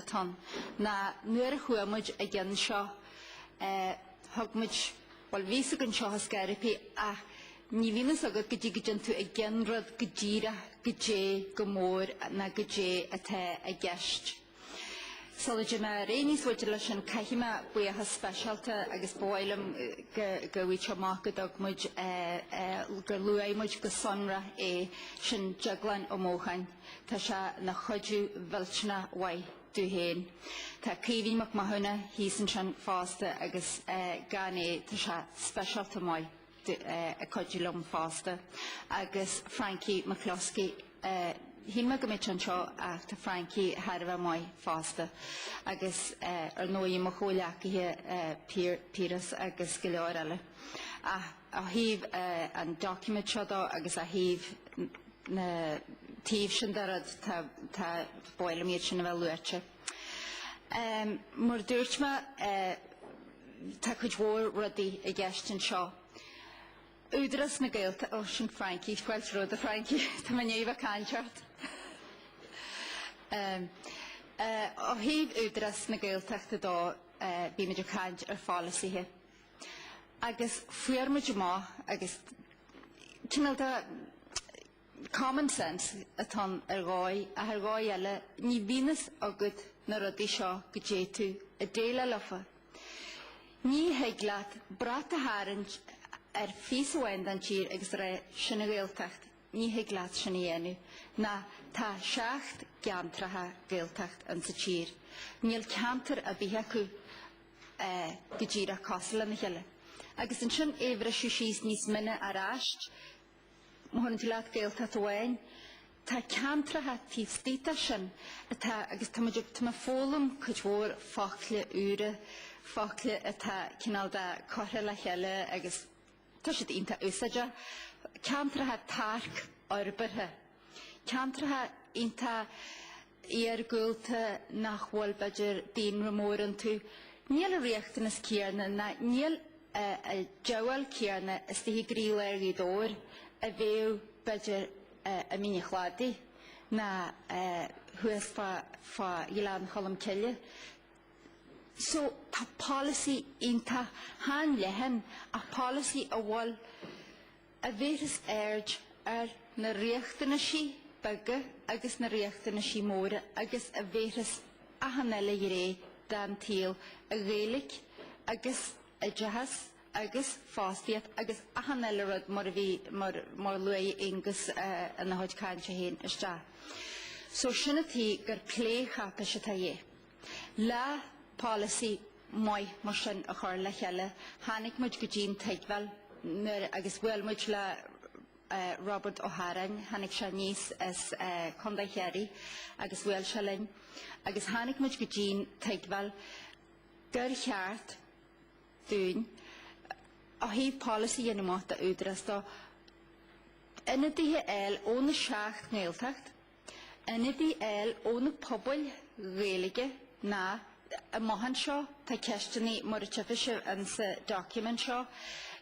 atá ann ná nuair a chuaigh muid i gceann seo thug muid, bhuel bhí fhios againn seo i Scarippy ach ní bhíonn fhios agat go dtí go dtéann tú i gceann rud go díreach goidé chomh mór ná goidé atá i gceist. Sula dté mé ar aon níos faide leis sin caithfidh mé buíochas speisialta agus ba mhaith liom go bhfaighidh tú amach go dtug muid, gur luaigh muid go sonrach é, sin Deaglán Ó Mócháin. Tá sé na chuidiú mhillteanach mhaith domh féin. Tá Caoimhín Mac Mathúna thíos ansin fosta agus gan é tá sé speisialta maith ag cuidiú liom fosta. Agus Frankie McCluskey, shíl mé go mbeadh sé anseo ach tá Frankie thar a bheith maith fosta. Agus ar ndóigh mo chomhleacaithe Piaras agus go leor eile. Ó thaobh an document seo dó agus ó thaobh na taobh sin de rud, tá, tá, ba mhaith liom iad sin a bheith luaite. Mar a dúirt mé, tá cuid mhór rudaí i gceist anseo. Údarás na Gaeilta, ó, sin Frankie, scoilt rua do Frankie, tá mé i ndiaidh a bheith ag caint ort. Ó thaobh Údarás na Gaeltachta dó, bhí muid ag caint ar pholasaithe. Agus fuair muid amach agus cineál de common sense atá ann ar dhóigh ach ar dhóigh eile ní bhíonn fhios agat na rudaí seo go dté tú ag déileáil leofa. Ní thig leat brat a tharraingt ar phíosa amháin den tír agus rá sin an Ghaeltacht. Ní thig leat sin a dhéanamh. Ná tá seacht gceantracha Gaeltacht ins an tír. Níl ceantar ar bith acu. go díreach cosúil lena chéile agus ansin é a bhriseadh síos níos mine aráist. Má thugann tú leat Gaeltacht amháin, tá ceantracha taobh istigh de sin atá agus tá muid ag tá mé foghlaim cuid mhór focla úra, focla atá cineál de curtha le chéile agus tá siad iontach úsáideach. Ceantracha tearcfhorbartha, ceantracha iontach iargúlta nach bhfuil, b'fhéidir, daonra mór iontu. Níl an riachtanas céanna ná níl an díobháil chéanna istigh i gcroílár Ghaoth Dobhair a bheadh, b'fhéidir, i Mín a Chladaigh ná thuas fá Ghleann Cholm Cille. So tá polasaí iontach, chan leathan ach polasaí a bhfuil, a bhéarfas aird ar na riachtanaisí beaga agus na riachtanaisí móra agus a bhéarfas achan eile ghné den tsaol, a Ghaeilge agus oideachas agus fostaíocht agus achan eile rud mar a luaigh Aonghus ina chuid cainte féin, isteach. So sin an tuighe gur plécháipéis atá ann. Le polasaí maith mar sin a chur le chéile. Tháinig muid go dtí an tuigbheáil agus bhuail muid le Robert Ó hÁráin. Tháinig sé aníos as Contae Chiarraí agus bhuail sé linn agus tháinig muid go dtí an tuigbheáil gur cheart dúinn ó thaobh polasaí a dhéanamh amach don Údarás do ionadaíl ó na seacht nGaeltacht. Ionadaíl ó na pobail Ghaeilge amach anseo, tá ceisteanna, mar a tchifidh sibh ann sa document seo,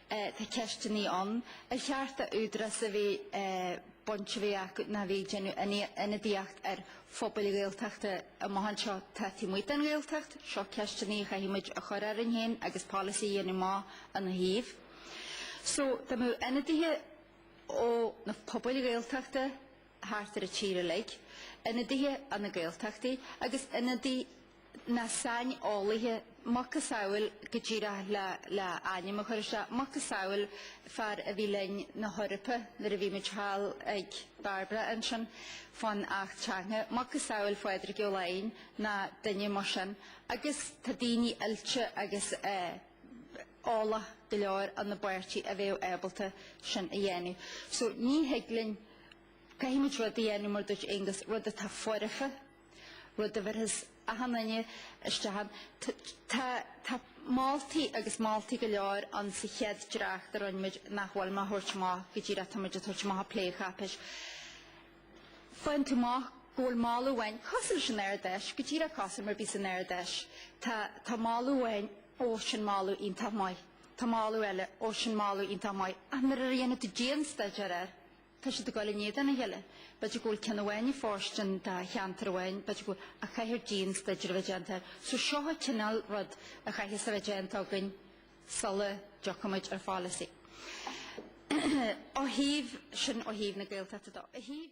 tá ceisteanna ann ar cheart do Údarás a bheith baint a bheith acu ná a bheith ag déanamh ionadaíocht ar phobail Ghaeltachta amach anseo atá taobh amuigh den Ghaeltacht. Seo ceisteanna a chaithfidh muid a chur orainn féin agus policy a dhéanamh amach ina thaobh. So, dá mbeadh ionadaithe ó na pobail Ghaeltachta, thart ar an tír uilig, ionadaithe ó na Gaeltachtaí agus ionadaíl na saineolaithe, macasamhail, go díreach le le ainm a chur isteach, macasamhail fear a bhí linn san Eoraip nuair a bhí muid thall ag Barbara ansin fán Acht Teanga, macasamhail Phádraig Ó Laighin ná duine mar sin agus tá daoine oilte agus eh, eolach go leor ar ár bpáirtí a bheadh ábalta sin a dhéanamh. So ní thig linn, caithfimid rud a dhéanamh mar a dúirt Aengus, rud atá foirfe, rud a bhéarfas achan duine isteach ann. Tá moltaí agus moltaí go leor ann sa chéad dréacht a rinne muid nach bhfuil mé ag thabhairt amach go díreach, táimid ag tabhairt amach plécháipéis. bhaint amach go bhfuil moladh amháin, cosúil leis an Ard Fheis, go díreach cosúil mar a bhí san Ard Fheis. Tá, tá moladh amháin, ó sin moladh iontach maith. Tá moladh eile, ó sin moladh iontach maith. Ach nuair a dhéanann tú dianstaidéar air, tá siad ag dul in éadan a chéile. B'fhéidir go bhfuil ceann amháin ag fóirstean do cheantar amháin, b'fhéidir go bhfuil, ach caithfear dianstaidéar a bheith déanta air. So seo an cineál rud a chaithfeas a bheith déanta againn sula dtiocfaimid ar pholasaí. Ó thaobh, sin ó thaobh na Gaeltachta de. Ó thaobh,